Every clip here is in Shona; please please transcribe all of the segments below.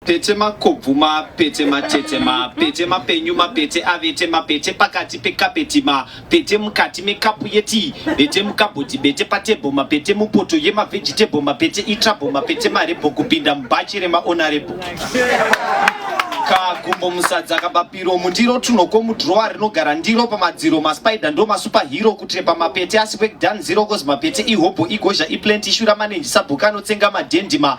Pete makobvu mapete matete mapete mapenyu mapete avete mapete pakati pekapeti mapete mukati mekapu yetii bete mukabhodhi bete patebho mapete mupoto yemavhejitebho mapete itrabho mapete marebho kupinda mubhachi remaonarebho kagumbo musadza kabapiro mundiro tunoko mudrowa rinogara ndiro pamadziro maspider ndo masuperhero kutrepa mapete asi wekdan zero cause mapete ihobho igozha iplant ishura manenji sabhuka anotsenga madhendima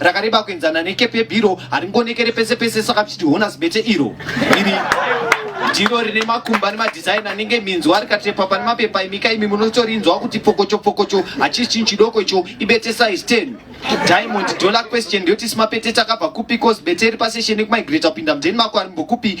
rakareba kuenzana nekepi yebhiro haringonekere pese pese saka tichiti honors bete iro iri ndiro rine makumba nemadhizaini anenge minzwa rikatepa pane mapepa imika imi munotorinzwa kuti pfokocho pfokocho hachisi chinhu chidoko icho ibete size 10 diamond dollar question ndiyoti simapete takabva kupi cos bete iri paseshe nekumigrate kupinda mudeni mako arimbokupi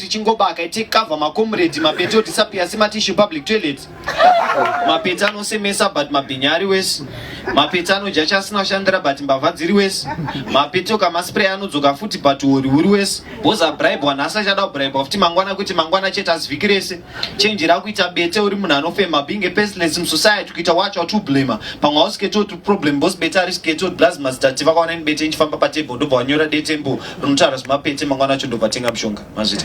tichingobaka tichikavha makomredi mapeti otisapia sematishu public toilet mapeti anosemesa but mabhinya ari wese mapeti anodya chasina shandira but mbavha dziri wese mapeti okamaspray anodzoka futi but hori huri wese bhozi abribwa nhasi achada kubribwa futi mangwana kuti mangwana chete asi vhiki rese chenji rakuita bete uri munhu anofema being a pestless musociety kuita wacho watublema pamwe hausiketoti problem bhozi bete ari siketoti blaz mazitati vakaona ini bete inchifamba patable ndobva wanyora detembo rinotaura zvemapete mangwana acho ndobva tenga mushonga mazvita